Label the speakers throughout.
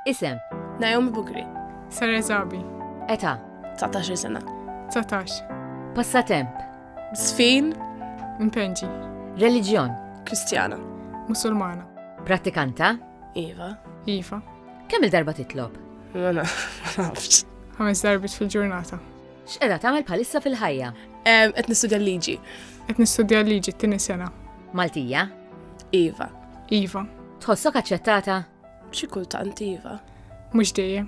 Speaker 1: Isem. Naomi
Speaker 2: Bugri. Sara Zabi.
Speaker 3: Eta.
Speaker 1: 19 sena.
Speaker 2: 19.
Speaker 3: Passatemp.
Speaker 1: Sfin.
Speaker 2: Impenġi.
Speaker 3: Reliġjon.
Speaker 1: Kristjana.
Speaker 2: Musulmana.
Speaker 3: Prattikanta.
Speaker 1: Iva.
Speaker 2: Iva.
Speaker 3: Kemm il-darba
Speaker 1: titlob? Ma nafx.
Speaker 2: Ħames darbit
Speaker 3: fil-ġurnata. X'qeda tagħmel
Speaker 1: bħalissa fil-ħajja? Qed nistudja
Speaker 2: l-liġi. Qed nistudja
Speaker 3: l-liġi t-tieni sena. Maltija?
Speaker 1: Iva.
Speaker 2: Iva.
Speaker 3: Tħossok aċċettata?
Speaker 1: Xi kultant
Speaker 2: iva. Mhux dejjem.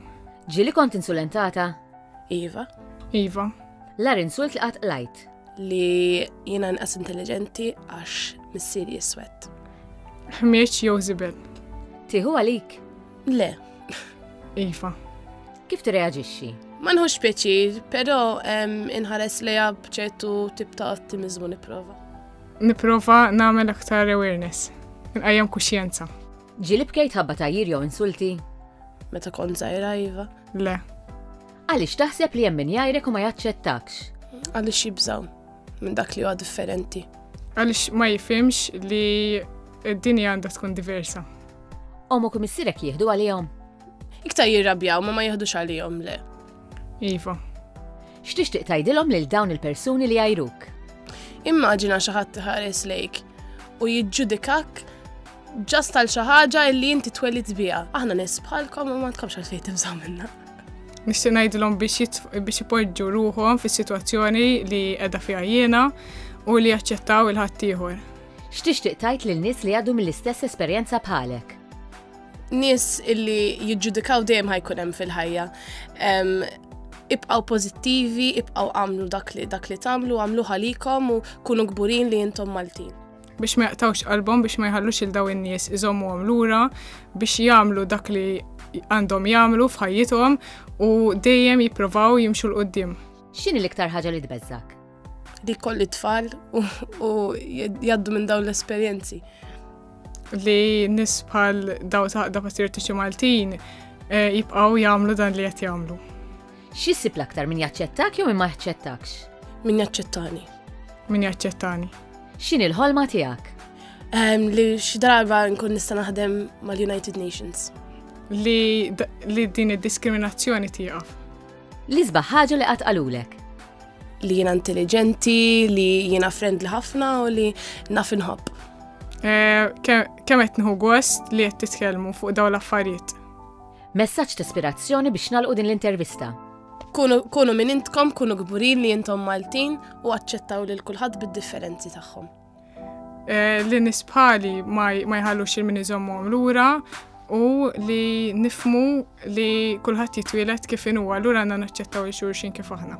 Speaker 3: Ġieli kont
Speaker 1: insulentata? Iva.
Speaker 2: Iva.
Speaker 3: L-ar insult
Speaker 1: li qatt lajt. Li
Speaker 2: jiena nqas intelligenti għax missieri jiswed. Ħmieġ
Speaker 3: jew żibel. Tieħu għalik?
Speaker 1: Le.
Speaker 3: Iva. Kif
Speaker 1: tirreaġixxi? Ma nħux
Speaker 2: pjaċir, però inħares lejha b'ċertu tip ta' ottimizmu nipprova. Niprofa
Speaker 3: nagħmel aktar awareness, nqajjem kuxjenza. Ġili bkejt
Speaker 1: ħabba tajjir jew insulti? Meta kont
Speaker 2: żgħira iva. Le.
Speaker 3: Għaliex
Speaker 1: taħseb li hemm min jgħajrek u ma jaċċettakx? Għaliex jibżaw
Speaker 2: minn dak li huwa differenti. Għaliex ma
Speaker 3: jifhimx li d-dinja għandha tkun diversa. Omu kum
Speaker 1: issirek jieħdu għalihom? Iktar
Speaker 2: jirrabjaw ma ma jieħdux għalihom le. Iva.
Speaker 1: X'tixtieq tgħidilhom lil dawn il-persuni li jgħajruk? Immaġina
Speaker 2: xi ħadd iħares lejk u jiġġudikak ġast tal xi ħaġa li inti twelid biha. Aħna nies bħalkom u ma tkomx għalfejn tibżgħu minna. Nixtieq
Speaker 3: ngħidilhom biex ipoġġu ruħhom fis-sitwazzjoni li qiegħda fiha jiena u li jaċċettaw il-ħaddieħor. X'tixtieq tgħid
Speaker 1: lil nies li għadu mill-istess esperjenza bħalek? Nies
Speaker 2: illi jiġġudikaw dejjem ħajkun hemm fil-ħajja. Ibqaw pożittivi, ibqaw għamlu dak li dak li tagħmlu, għamlu ħalikom u kunu kburin li intom Maltin biex ma jaqtawx
Speaker 3: qalbhom biex ma jħallux il daw in-nies iżommu lura biex jagħmlu dak li għandhom jagħmlu f'ħajjithom u dejjem jipprovaw jimxu l-qoddim. X'inhi l-iktar ħaġa
Speaker 1: li tbeżżak? li kolli
Speaker 2: tfal u jaddu minn dawn l-esperjenzi. Li
Speaker 3: nis bħal daw ta' da patriottiċi Maltin eh, jibqaw jamlu dan li jett jamlu. Xissib
Speaker 1: l-aktar min jaċċettak jew min ma jaċċettakx? Min jaċċettani.
Speaker 2: Min
Speaker 3: jaċċettani. Xin il-ħolma
Speaker 1: tijak? Ehm, li
Speaker 2: xi darba nkun nista' naħdem mal-United Nations. Li,
Speaker 3: li din id-diskriminazzjoni tieqaf. L-isbaħ
Speaker 1: ħaġa li qatt qalulek. Li jiena
Speaker 2: intelligenti, li jiena friendly ħafna u li naf inħobb. Eh,
Speaker 3: kemm qed nħu gost li qed titkellmu fuq dawn l-affarijiet. Messaġġ
Speaker 1: ta' ispirazzjoni biex nalqu din l-intervista. Kunu
Speaker 2: minn intkom, kunu gburin li jintom Maltin u aċċettaw lil kulħadd bid-differenzi tagħhom. Eh,
Speaker 3: li nisbħali ma jħallux il-min iżommhom lura u li nifmu li kulħadd jitwielet kif inhu allura għandna naċċettaw il-xurxin kif aħna.